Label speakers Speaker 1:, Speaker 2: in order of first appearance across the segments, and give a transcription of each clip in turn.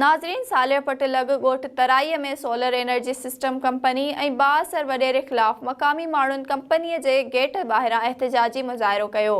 Speaker 1: ناظرين صالح پٽ لڳ ڳوٺ Tarai ۾ solar energy system company ۽ بااثر وڏيري خلاف مقامي ماڻهن ڪمپني جي گيٽ ٻاهران احتجاجي مظاهرو ڪيو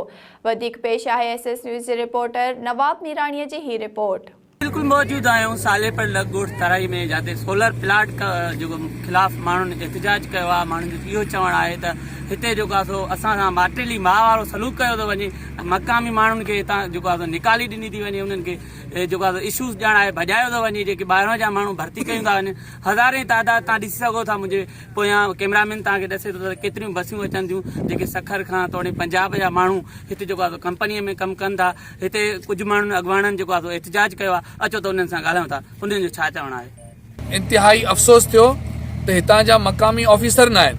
Speaker 1: وڌيڪ پيش آهي ايس ايس نيوز جي رپورٽر نواب ميراڻي جي هي رپورٽ. بلڪل موجود
Speaker 2: آهيون صالح پٽ لڳ ڳوٺ ترائي ۾ جاتي سولر پلاٽ جيڪو خلاف ماڻهن احتجاج ڪيو آهي ماڻهن جو اهو چوڻ آهي ته هتي جيڪو آهي سو اسان سان ماٽيلي ماء وارو سلوڪ ڪيو ٿو وڃي مقامي ماڻهن کي هتان جيڪو آهي سو نيڪالي ڏني ٿي وڃي انهن کي اهي جيڪا ته اشوز ڄڻ آهي ڀڄايو ٿو وڃي جيڪي ٻاهران جا ماڻهو ڀرتي ڪيون ٿا وڃن هزارين تعداد تان ڏسي سگهو ٿا منهنجي پويان ڪيمرا مين تان کي ڏسي ٿو ته ڪيتريون بسيون اچن ٿيون جيڪي سکر کان توڙي پنجاب جا ماڻهو هتي جيڪو آهي ڪمپني ۾ ڪم ڪن ٿا هتي ڪجهه ماڻهن اڳواڻن جيڪو آهي احتجاج ڪيو آهي اچو ته انهن سان ڳالهايون ٿا انهن جو ڇا چوڻ آهي. انتهائي افسوس
Speaker 3: ٿيو ته هتان جا مقامي آفيسر ناهن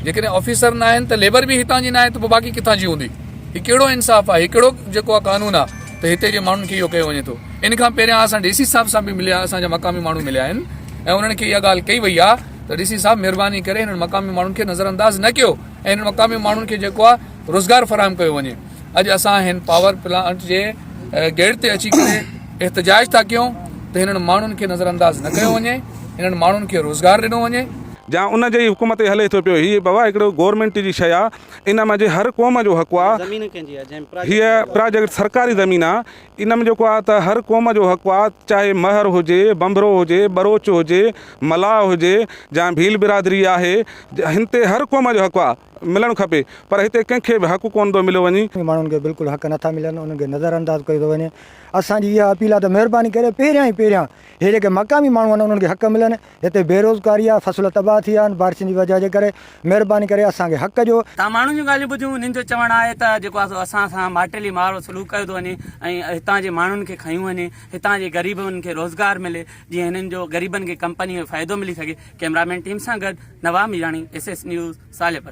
Speaker 3: جيڪڏهن آفيسر ناهن ته ليبر به هتان جي ناهي ته پوء باقي ڪٿان جي هوندي هي ڪهڙو انصاف آهي هي ڪهڙو جيڪو آهي قانون آهي ته هتي جي ماڻهن کي اهو ڪيو وڃي ٿو ان کان پهريان اسان ڊي سي صاحب سان به مليا اسان جا مقامي ماڻهو مليا آهن ۽ انهن کي اها ڳالهه ڪئي وئي آهي ته ڊي سي صاحب مهرباني ڪري هنن مقامي ماڻهن کي نظرانداز نه ڪيو ۽ هنن مقامي ماڻهن کي جيڪو آهي روزگار فراهم ڪيو وڃي اڄ اسان هن پاور پلانٽ جي گيٽ تي اچي ڪري احتجاج ٿا ڪيون ته هنن ماڻهن کي نظر انداز نه ڪيو وڃي هنن ماڻهن کي روزگار ڏنو وڃي. جا ان جي
Speaker 4: حڪم تي هلي ٿو پيو هي بابا هڪڙو گورنمينٽ جي شيء آ ان مان جي هر قوم جو حق آ هي پراجيڪٽ سرڪاري زمين آ ان م جيڪو آ ته هر قوم جو حق آ چاهي مهر هجي بنبرو هجي ٻروچ هجي ملاح هجي جا ڀيل برادري آهي هن تي هر قوم جو حق آ. ملڻ کپي پر هتي ڪنهن کي به حق ڪونه ٿو مليو وڃي. ماڻهن کي بلڪل حق
Speaker 5: نٿا ملن انهن کي نظر انداز ڪيو ٿو وڃي اسان جي اها اپيل آهي ته مهرباني ڪري پهريان ئي پهريان هي جيڪي مقامي ماڻهو آهن انهن کي حق ملن هتي بيروزگاري آهي فصل تباهه ٿي ويا آهن بارشن جي وجه جي ڪري مهرباني ڪري اسان کي حق جو تان ماڻهن جون ڳالهيون ٻڌيون
Speaker 2: انهن جو چوڻ آهي ته جيڪو آهي سو اسان سان ماٽيلي ماڙو سلوڪ ڪيو ٿو وڃي ۽ هتان جي ماڻهن کي کنيو وڃي هتان جي غريبن کي روزگار ملي جيئن هنن جو غريبن کي ڪمپني ۾ فائدو ملي سگهي ڪئميرا مين ٽيم سان گڏ Nawab Mirani S S news ساليپر.